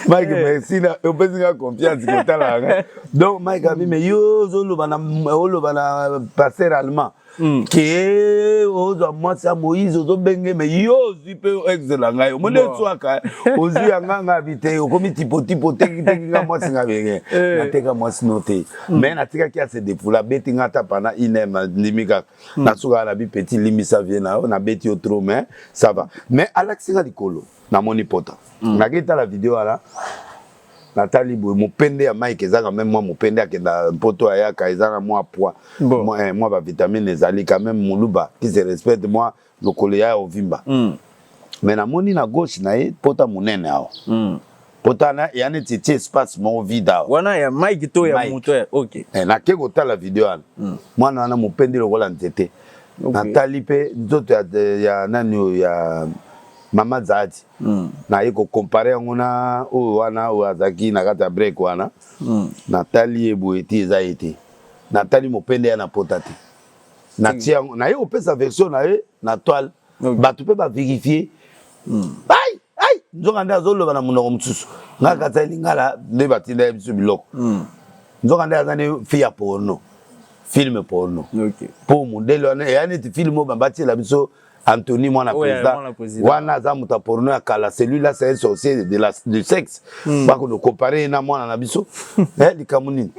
mike eh. merci na opesi nga confiance kotalaka donc mike abi me yo ozoloba na oloba na passer allemand hmm. ke ozwa mwasi ya moïse ozobenge me yo ozwi mpe exela ngai omoni eswaka ozwi ya ngai ngai abi te okomi tipotipo otekiteki nga mwasi ngai benge eh. nateka mwasi no te me hmm. natikaki ya se depoula abeti ngai ata pana inem ndimi kaka Hmm. na suka na bi petit limbisa vie na yo nabeti yo trop mais ça va mais alakisi nga likolo namoni pota hmm. nakei tala video wana natali boye mopende ya mike ezaka meme mwa mopende akenda mpoto ayaka eza na mwa poids mwa eh, bavitamine ezali quand meme moluba qui se respecte mwa lokolo ya ovimba mm. me namoni na gauche na ye pota monene awa mm. pota na ya neti etie espace moko vide awa wana ya mike to ya moto ya ok eh, nake kotala video wana mm. mwana wana mopendi lokola nzete okay. natali mpe nzoto ya, ya nani oyo ya mama zaadi mm. naye kokompare yango na oyo wana oyo azalaki na kati ya break wana mm. natali ye boye te eza ye te natali mopende ya na pota te na tia yango naye kopesa version na ye na toile bato mpe baverifie hmm. ai ai nzoka nde azoloba na monoko mosusu ngai kati ya lingala nde batinda ye biso biloko hmm. nzoka nde aza nde fi ya porno filme porno mpo modele wana eya neti filme oyo batiela biso Anthony mwana oh, président wana aza moto ya porno ya kala celui là c'est un sorcier de la du sexe mm. bako no comparer na mwana na biso eh likambo nini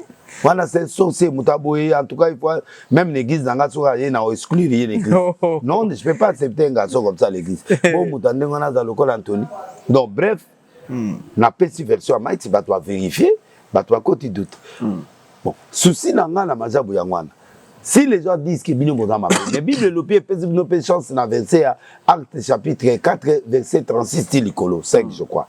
wana c'est un sorcier moto aboye en tout cas il faut même l'église na nga soka ye na exclure ye l'église non je peux pas accepter un garçon comme ça l'église bon moto ndenge wana aza lokola Anthony donc bref hmm. na pesi version ya maiti bato ba verifie bato bakoti doute hmm. bon souci na ngai na mazabu yango wana si les gens disent que bino boza mabe mais bible elobi epesi bino mpe chance na verset ya acte chapitre 4 verset 36 ti likolo 5 je crois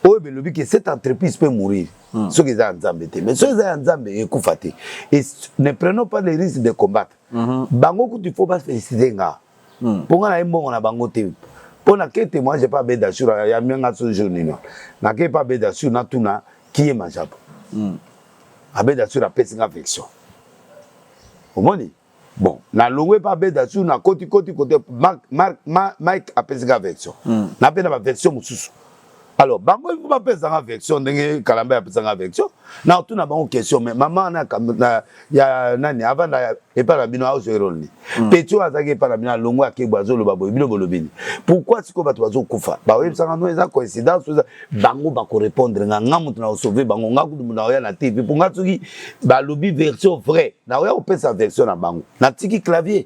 oyo belobi ke cette entreprise peut mourir hmm. soki eza ya nzambe te mais soki eza ya nzambe ekufa te et ne prenons pas le risque de combattre mm -hmm. bango kutu il faut bafélicite nga Hmm. Mpo nga na ye mbongo na bango te. Mpo na ke témoignage epa beda sur ya mianga so jour nini. Na ke epa beda sur na tuna kiye majabu. Hmm. Abeda sur apesi nga vection. Omoni? bon nalongwe mpe abeda sur na koti koti kote mike apesi nga version hmm. napenda baversion mosusu alors bango il faut bapesa nga version ndenge kalamba apesa nga version na otuna bango question mais mama na, na ya nani avanda epai na bino aozwa erole ni mm. peti oyo azalaki epai na bino alongo akebwa azoloba boye bino bolobi ni pourquoi sikoyo bato bazokufa baoyebisanga no eza coïncidence eza bango bakorepondre nga nga moto na osauve bango nga kutu moto naoya na tv mpo nga soki balobi version vrai naoya kopesa version na bango natiki clavier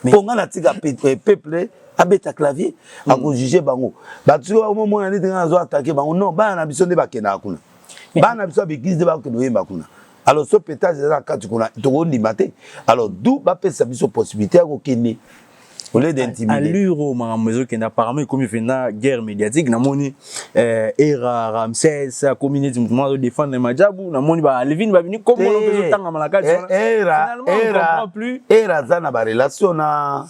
mpo nga natika eh, peuple abeta clavier mm. akojuge bango bato soki bakomomona neti ngai nazo atake bango non bana na biso nde bakendaka kuna bana na biso ya beglise nde bakokende koyemba kuna alors so petage eza na kati kuna tokondima te alors du bapesa biso possibilité ya kokende au lieu d'intimider allure oyo makambo ezokende apparemment ekomi mpenza guerre médiatique namoni eh, era ramses akomi neti moto moko azodefendre na majabu namoni balevine babini komona mpe ezotangama na kati eh, wana era aza na barelation na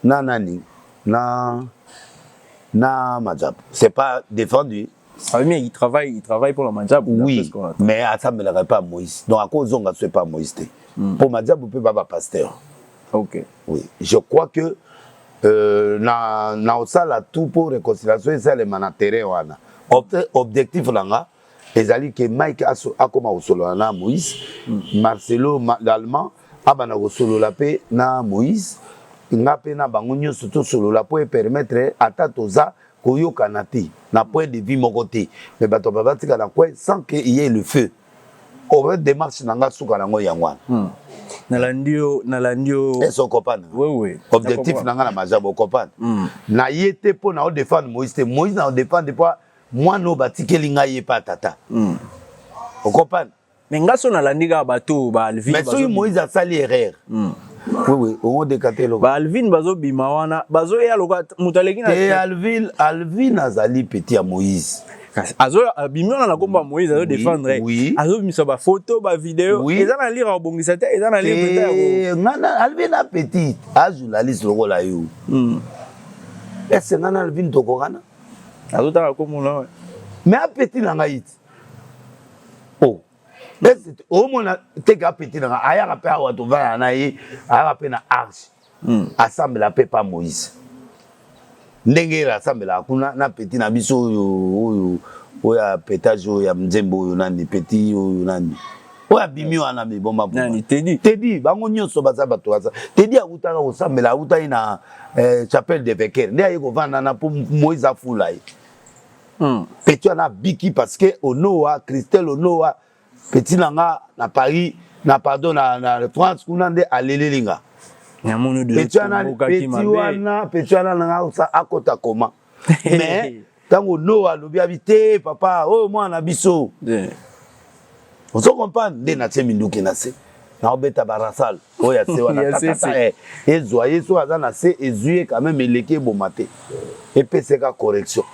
na nani na na majabu c'est pas défendu Salmi il travaille il travaille pour la majabu oui mais asambelaka pas Moïse donc akozonga ce pas Moïse te mm. pour majabu pe baba pasteur ok oui je crois que euh, na na osala tout pour réconciliation esalema na terrain wana objectif na nga ezali ke mike akoma kosolola na moïse mm. marcelo l'allemand abanda kosolola mpe na moïse nga mpe na bango nyonso tosolola mpo epermettre ata toza koyokana te na point de vue moko te mais bato ba batika na coin sans que il y ait le feu oyo démarche na nga suka nango yango wana hmm. nalandi yo nalandi yo ese okopana wewe objectif na nga na maja bokopana hmm. na ye te mpo na odefendre moïse te moïse na odefendre mpo mwana oyo batikeli ngai ye pa tata mm. okopana me nga so nalandi kaka bato oyo baalvime soki moïse asali erreur mm. wewe ongodekate eloko baalvine bazobima wana bazoya loka moto aleki na e alvine alvine azali peti ya moïse abimi wana na kombo ya moïse azo defendre azobimisa bafoto bavideo eza na lire akobongisa te eza na lire eh, ngana alvine apetite ajournaliste lokola yo hmm. ese ngana alvine tokokana azotala kombo na mais apeti na ngai ti o omona teke apeti na ngai ayaka mpe awa tovanda na ye ayaka mpe na arche hmm. asambela mpe pa moïse ndenge ele asambelaka kuna na peti na biso oyo oyo oyo ya petage oyo ya mzembo oyo nani peti oyo nani oyo abimi wana miboma nani tedi tedi bango nyonso baza bato baza tedi awutaka kosambela awutaki na eh, chapelle de veker nde aye kovanda na mpo moise afula ye hmm. peti wana abiki parce que onoa christel onoa peti na nga na paris na pardon na, na france kuna nde aleleli nga peti wana peti wana nanga akota koma mais ntango noa alobi abi te papa oyo oh, mwana na biso ozo comprendre nde natie minduki na se naobeta barasal oyo ya se wana tatata eh, ezwa ye soki aza na se ezwi ye quand même eleki eboma te epeseka correction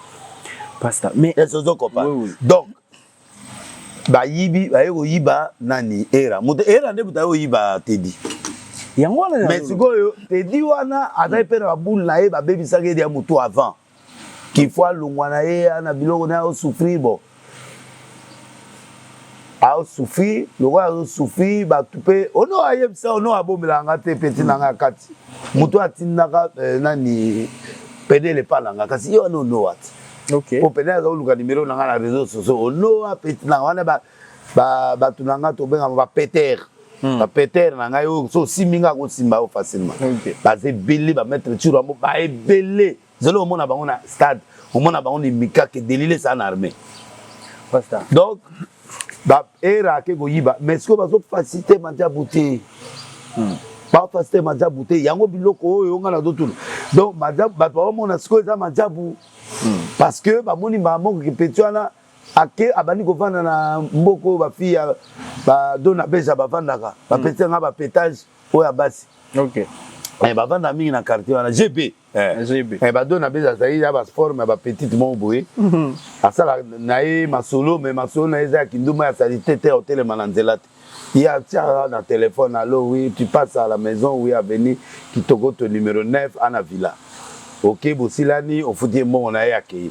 pasta mais esi ozo comprendre donc bayibi baye koyiba nani era moto era nde moto aye koyiba tedi yango wana mais sikoyo tedi wana azali mpe na baboule na ye babebisaki ye ya motu avant qu'il faut alongwa na ye na biloko naye osouffrir bo aosouffrir lokola azosouffrir bato mpe ono ayebisa ono abomelaka nga te peti na nga kati moto atindaka eh, nani pedele epa na nga kasi ye wana ono wati okay. po pede aza koluka nimero na nga na réseau soso onoa peti na wana ba bato na ngai tobengama ba peter hmm. ba peter na ngai oyo so osimbi ngai akosimba yo facilement baza ebele ba maître tiro yango ba ebele zelo omona bango na stade omona bango ni mikake delile eza na armée donc ba era ake koyiba mais sikoyo bazo facilité madiabu te hmm. ba facilité madiabu te yango biloko oyo ngai nazotuna donc madiabu bato baomona sikoyo eza madiabu hmm. parce que bamoni mamoki peti wana ake abandi kovanda na mboka oyo bafille ya badona beza bavandaka bapetisa nga bapetage oyo ya basi okay. Eh, bavanda mingi na quartier wana gb eh. eh, bado na beza azali ya baforme ya bapetite moko boye mhm. asala na ye masolo me masolo na ye eza ya kinduma ya salite te otelema na nzela te ye atiaka na telefone alo wi tu passe à la maison wi aveni kitoko to numero 9 ana villa oke bosilani ofuti ye mbongo na ye akei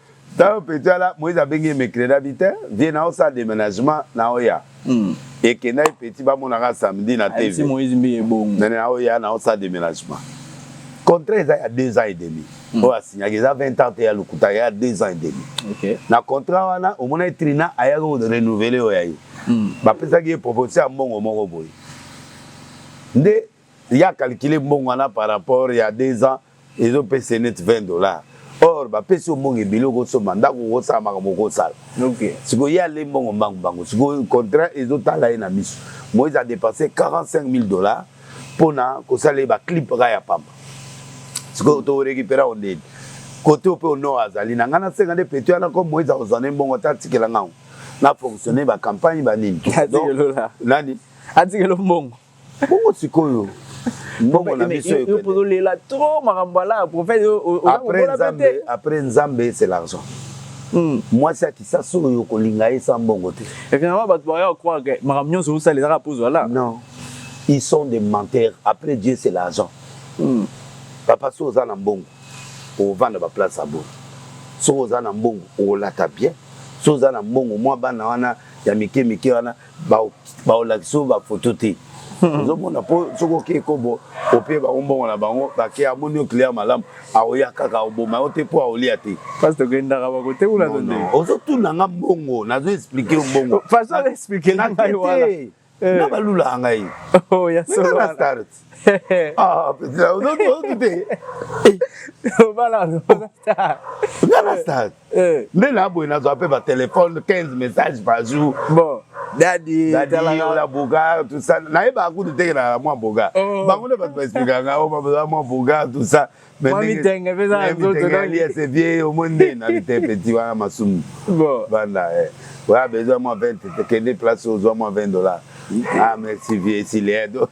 ntango peti ala moise abengi ye mecredabi te vie na osala deménagement na oya hmm. ekendaki peti bamonaka samedi na tv nani na oya na osala deménagement contrat eza ya deux ans et demi hmm. oyo asignaki eza 20 ans te ya lokuta ya deux ans et demi na contrat wana omonaki trina ayaki korenouveler oyo ya ye hmm. bapesaki ye proposition ya mbongo moko boye nde ya calculer mbongo wana par rapport ya deux ans ezopesa ye neti 20 dollars or bapesi yo mbongo ebele okosomba ndako okosala makambo okosala sikoyo ye ale mbongo mbangu mbangu sikoyo contrat ezotala ye na miso moise adepense 45 000 dollars mpo na kosala ye baclip kaka ya pamba sikoyo tokorekipera o ndeni kote ope onor azali na ngai nasenga nde peto yana ko moise akozwa nde mbongo ata atikela ngango na fonctionne bacampagne banini nani atikelo mbongo bongo sikoyo mbongo na biso ekolela trop makambo ala prophète après nzambe c'est l'argent hmm. mwasi ya kisasa oyo okolinga ye sa mbongo te finalement bato baya croire ke makambo nyonso osala ezaka mpo ozwala non ils sont des menteurs après dieu c'est l'argent hmm. papa so oza na mbongo ovanda baplace ya boye soki oza na mbongo olata bien soki oza na mbongo mwa bana wana ya mike mike wana baolakisa ba bafoto te hmm. ozomona mpo soki okei kobo ope bango mbongo na bango bake amoni oclient malamu aoya kaka oboma yo te mpo aolia te parce tokendaka bakote kuna to nde ozotuna nga mbongo nazo explike yo mbongo façon explike na ngai wana eh. na balulaka ngai oh, ya solo Ah, putain, on doit on douter. Obala no star. Nga na stade. Eh. Nde na boye nazwa mpe ba téléphone 15 messages par jour. Bon. Daddy, Daddy, talanga. ola boga, tout ça. Nayeba kutu te na mwa boga. Oh. Bango nde bato ba expliquer nga, oh, ba mwa boga, tout ça. Mamitenge peza na nzoto donc yes et bien au monde na bite petit wana masumu. Bon. Banda eh. Oya besoin moi 20 kende place ozwa moi 20 dollars. Ah merci vieux Silien. Donc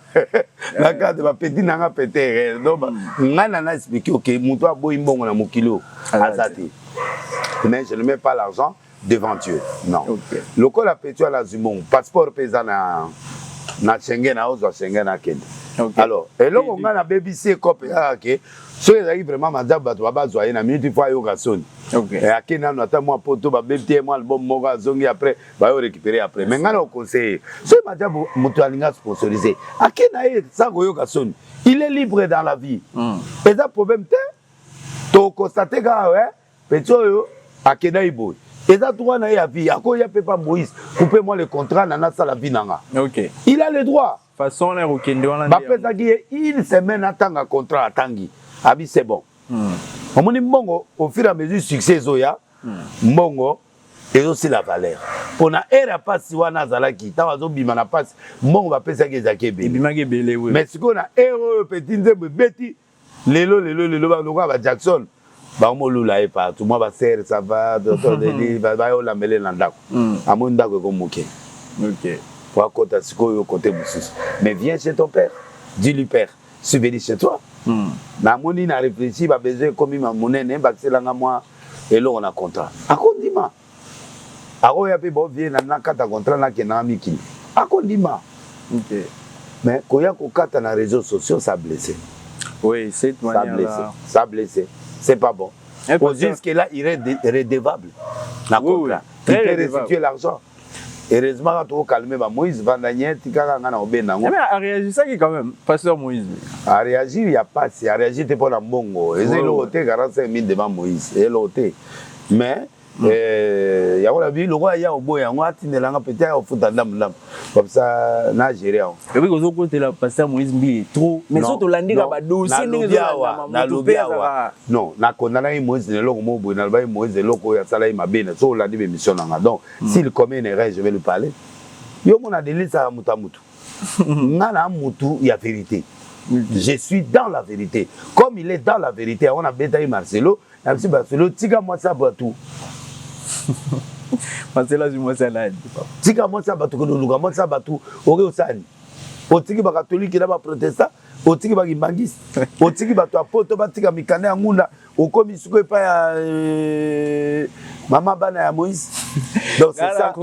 na cadre ba petit nanga peter. Eh. Donc nga na na expliquer OK mutu aboyi mbongo na mokilo. Azati. Ah, mais je ne mets pas l'argent. devant Dieu non okay. lokola petu ala azwi mbongo passeport mpe eza na na Schengen aozwa Schengen akende okay. alors eloko ngai nabebisi ekope kaka ke soki ezalaki vraiment manzambe bato babazwa ye na minute fo ayoka soni okay. Eh, ake nano ata mwa poto babebi te mwa album moko azongi après bayo récupéré après mais ngai na oconseille soki manzambe moto alingi asponsorise ake na ye sa koyoka soni il est libre dans la vie mm. eza problème te tokostate kaka eh? Petit oyo akenda ye boye eza droit na ye ya vie akoya mpe pa moïse coupe moi le contrat na nasala vie na nga okay. il a le droit façon wana ya kokende wana bapesaki ye une semaine atanga contrat atangi abi c'est bon hmm. omoni mbongo au fur et à mesure succès ezoya hmm. mbongo ezosila valeur mpo na ere ya mpasi wana azalaki ntango azobima na mpasi mbongo bapesaki ezalaki ebele ebimaki ebele mais sikoyo na ere oyo peti nzembo ebeti lelo lelo lelo ba lokola ba Jackson bango molula ye partout mwa ba serre ça va totoleli bayolambele na ndako hmm. amoni ndako eko moke po akota sikoyo kote mosusu mais viens chez ton père dis lui père suis venu chez toi hmm. namoni na réfléchi babesoin ekomi monene bakiselanga mwa eloko na contrat akondima Ako ya pe bo vie na na kata contrat na kende nanga mikili ako ndima te mais koya ko kata na reseaux sociaux ça blesse oui cette manière ça blesse ça blesse c'est pas bon eh, au jusque là il est redevable na contrat oui, oui. il peut restituer l'argent heureusement kaka tokokalme ba moïse vandanie tikaka ngai na kobenda yango eh, areagisaki quand même pasteur moïse areagir ya pasi areagir te mpo na mbongo eza eloko te 45 mille devant moïse eloko te mais mm. eh, yango na bi lokola ya oboya yango atindela nga pete ya ofuta ndambu ndambu komsa na gere yango ebi kozo kotela pasteur moïse mbiye trop mais so tolandika badosie ndenge ezonalobi awa non nakondanaki moïse na eloko moko boye nalobaki moïse eloko oyo asalaki mabe na so olandi bemission na nga donc mm. s'il commet une erreur je vais lui parler yo omona delisaka moto ya motu nga na motu ya verité je suis dans la vérité comme il est dans la vérité yango nabetaki marcelo Na biso ba solo tika mwasi ya bato. Masela zwi mwasi ya nani? Tika mwasi ya bato koluluka mwasi ya bato oke osani. Otiki ba katolike na ba protestant, otiki ba kimbangiste, otiki bato ya poto batika mikanda ya ngunda, okomi siko epai ya euh, mama bana ya Moïse. Donc c'est ça.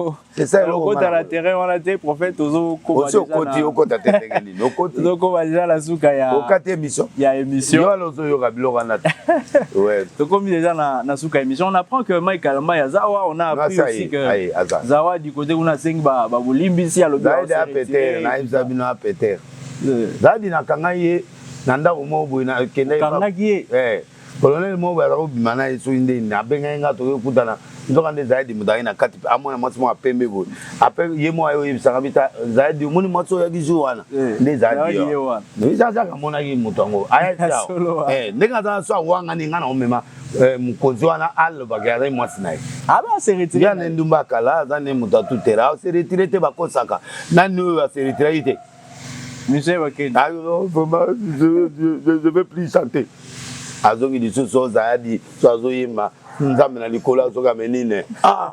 okota na terrain wana te prophète ozokoti okota te ndenge nini okoti ozokoba deja na suka ya okati émission ya émission yo alozo yoka biloko wana te ouais tokomi deja na na suka émission on apprend que Mike Alamba ya Zawa on a appris aussi que Zawa du côté kuna sengi ba ba bolimbisi alobi Zaidi a péter na ibza bino a péter Zaidi na kanga ye na ndako moko boye na kende kangaki ye eh Colonel moko boye azalaki kobima na ye soki nde nini abengaki ngai tokoki kokutana nzokande zayadi moto ayaki na kati amona mwasi moko ya pembe boye apres ye moko aye oyebisaka bi ta zayadi omoni mwasi oyo yaki jour wana eh, nde zayadi ye wana ezazaka amonaki moto yango ayaki awa eh, ndenge aza na so awangani ngai na omema eh, mokonzi wana alobaka azali mwasi na ye aseretire ah, na endumba kala aza nde moto atutela aseretire te bakosaka nani oyo aseretiraki te musee bakende ah, je veux plus chanter azongi lisusu ozayadi so azoyemba nzambe na likolo azoka menine ah!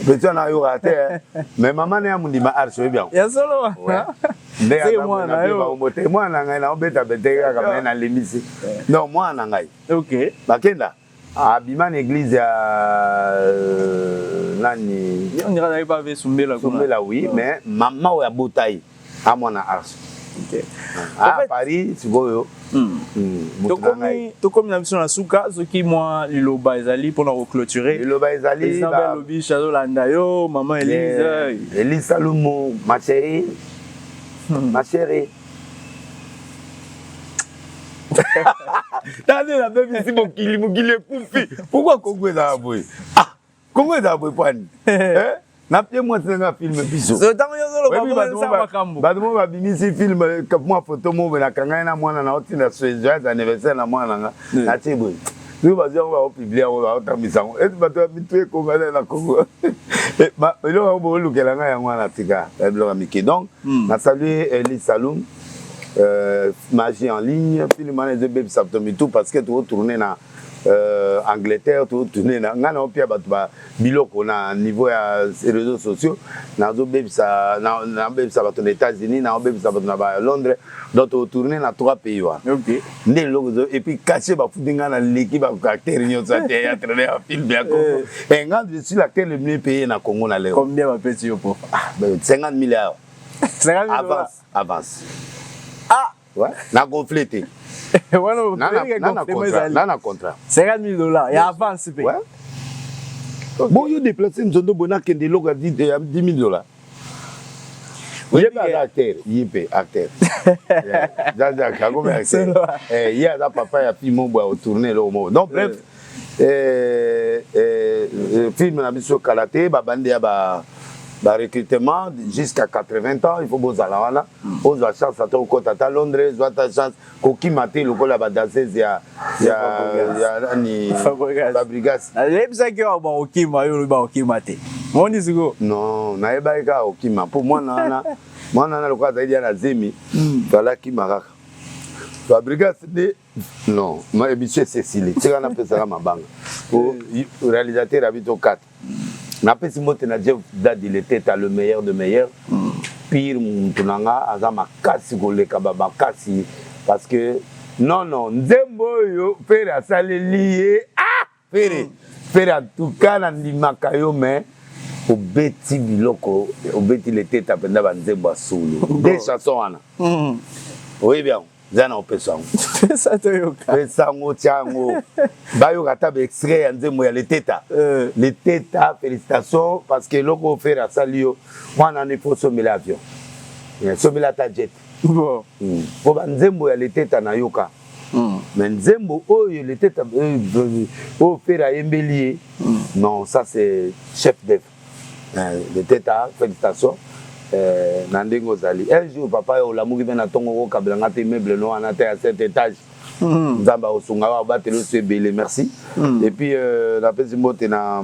peti wana ayokaka te eh. mais mama na ya mondima arsi oyebi yango ya solo ndebaomote mwana na ngai naobeta bete kaka me nalimbisi donc mwana na ngai bakenda abima na eglise ya euh, nani sumbela sumbela oui mais mama oyo abota ye amwana arso ah, a paris sikoyo hmm. hmm, tokomi na biso na suka soki mwa liloba ezali mpona koclôture liloba ezalilobish azolanda yo mama elise elise alumu ma chérie hmm. ma chérie tande na bebisi mokili mokili ekufi pourkui kongo ezala boye ah, kongo ezala boye pani eh? na pie mwasi nanga filme bisobato mo babimisi filme eh, mwa foto mobe nakangani na mwana na otinda soejoyes anniversaire na mwana nanga natie boye soki bazwi yango bakopiblie yango bakotambisa yango ete bato ya mitu ekongana na kongo eh, eloko yango bokolukela ngai yango wana tika eh, biloko ya mike donc hmm. na salue eli salum euh, magie en ligne film wana ezobebisa bato mitu parce que tokotourne na euh, angleterre tokotourne na ngai na opia bato biloko na niveau ya reseaux sociaux nazobebisa nabebisa bato na états-unis naobebisa bato na ba londres donc totourne na trois pays wana nde eloko ezo epuis kashe bafuti ngai na leki baacteur nyonso ya théâtre na ya film ya congo eh. eh, ngai je suis l'acteur le mieux payé na congo na leo 50 mille awa avance avance ah na gonfle te wana na contrat 50 000 dollars ya avance mpe bon yo déplace nzondo boye nakende eloko ya 10 000 dollars ye mpe aza acteur ye mpe acteur jajak akomi acteur ye aza papa ya pimo boye otourne eloko moko donc bref eh, eh, eh film na biso kala te babandi ya ba barecrutement jusqu'à 80 ans il faut bozala wana ozwa hmm. chance ata okota ata londres zwa ata chance kokima te lokola badasese ya nani fabrigas nayebisaki yo bakokima yo olobi bakokima te moni siko non nayebaki kaka kokima mpo mwana wana mwana wana lokola azali ya na zemi hmm. fala akima kaka fabrigas nde Non, ma emission esili. Tika na pesaka mabanga. Au réalisateur habito 4. Na pesi mbote na Jeff Dad il était à le meilleur de meilleur. Mm. Pire mutu na nga aza makasi koleka ba makasi parce que non non nzembo oyo pere asaleli ye ah Ferre, Ferre en tout cas na ndimaka yo mais obeti biloko obeti leteta mpenza banzembo ya solo de chanson wana hmm. oyebi yango eza na opesa yango pesa toyoka pesa yango tya yango bayoka ata baextrait ya nzembo ya leteta eh. leteta félicitation parce que eloko oyo fere asali yo mwana wana ifo osombela avion eh, sombela ata jet mpo hmm. banzembo ya leteta nayoka Mm. Mais nzembo oyo le tete euh, euh, oyo Ferre ayembeli ye mm. non ça c'est chef d'œuvre euh, le tete a félicitation euh, na ndenge ozali un jour papa yo olamuki mpe na ntongo okokabela nga te meuble no wana te ya cet étage mm. nzambe akosunga yo abateli oso ebele merci mm. et puis euh, napesi mbote na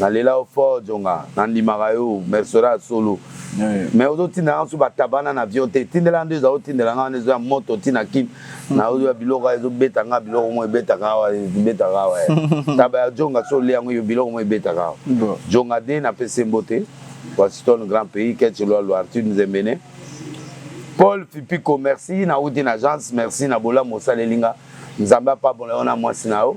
Na lela yo fort djonga na ndimaka yo mercenaire ya solo mais ozo tindela nga su ba tabac na avion te tindela nga nde oza otindela nga wana ezo ya moto ti na kin na ozo ya biloko ezo beta nga biloko mo ebetaka awa ebetaka awa taba ya djonga so olia yango yo biloko mo ebetaka awa djonga de na pese mbote Washington grand pays ketche loi loi Arthur Nzembene Paul Fipiko merci na wuti na agence merci na bolamu osaleli nga Nzambe apambola yo na mwasi na yo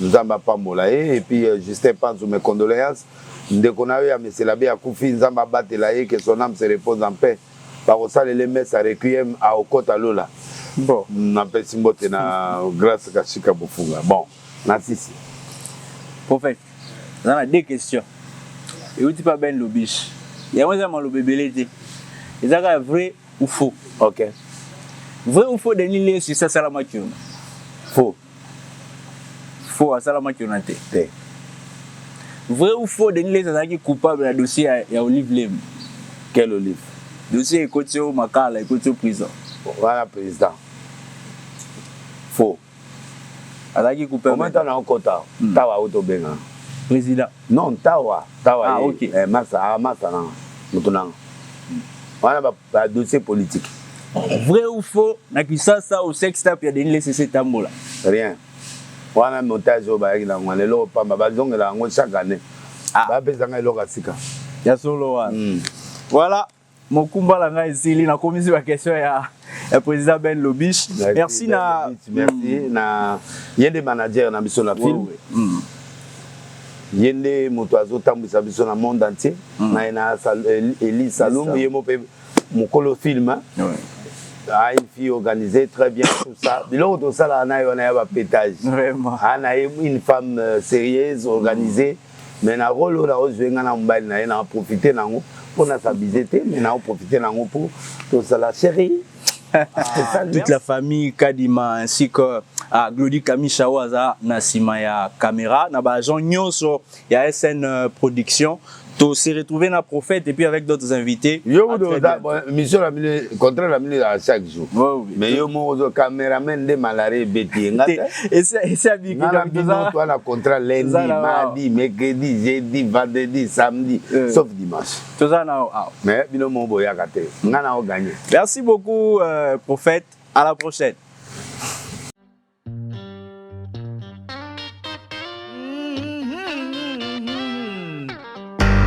Nzambe apambola ye et puis euh, Justin Panzu mes condoléances ndeko na yo ya Meselabe akufi Nzambe abatela ye que son âme se repose en paix bakosalela ye messe ya requiem aokota lola Bon, napesi mbote na Grace Kashika Bofunga bon na sisi prophète naza na deux questions euti mpe ben lobish yango eza maloba ebele te eza kaka vrai ou faux ok vrai ou faux denis lesu esi asalamaki yo faux Faux asala makiona te. Te. Vrai ou faux Denis Leza azalaki coupable na dossier ya, ya Olive Lem. Quel Olive? Dossier ekoti yo makala, ekoti yo prison. Wana président. Faux. Azalaki coupable. Comment on a okota? Hmm. Tawa auto benga. Président. Non, tawa, tawa. Ah, ye. okay. Eh, masa, ah, masa na. Mutu na. Hmm. Wana ba ba dossier politique vrai ou faux na kisasa au sex tap ya Denis Lesese etambola rien wana montage oyo bayaki na yango wana eloko pamba bazongela yango chaque année ah. bapesanga eloko ya sika ya solo wana mm. voilà mokumba na ngai esili nakomisi baquestion ya ya président ben lobish merci na merci mm. na ye nde manager na biso na film mm. ye nde moto azo tambwisa biso na monde entier mm. na na Elise Salum ye mo pe mukolo film hein ouais. Ah, une fille organisée très bien tout ça biloko tosalaka na ye wana ya bapetage ah, na ye une femme euh, sérieuse organisée mm. mais na role oyo nakozwe ngai na mobali na ye na profite nango mpo na s'abuser te mais naoprofite nango mpo tozala chérie Ah, toute la famille Kadima ainsi que ah, Glody Kamisha oyo aza na nsima ya caméra na baagent nyonso ya SN euh, Production to se retrouver na prophète et puis avec d'autres invités yo kutu oza mission na bino contrat na bino ezala chaque jour mais yo moko ozo cameraman nde malaria ebeti ye nga tengana bino toa na contrat lundi mardi mercredi jeudi vendredi samedi euh. sauf dimanche toza na yo awa mais bino mo boyaka te nga na o gagne merci beaucoup euh, prophète à la prochaine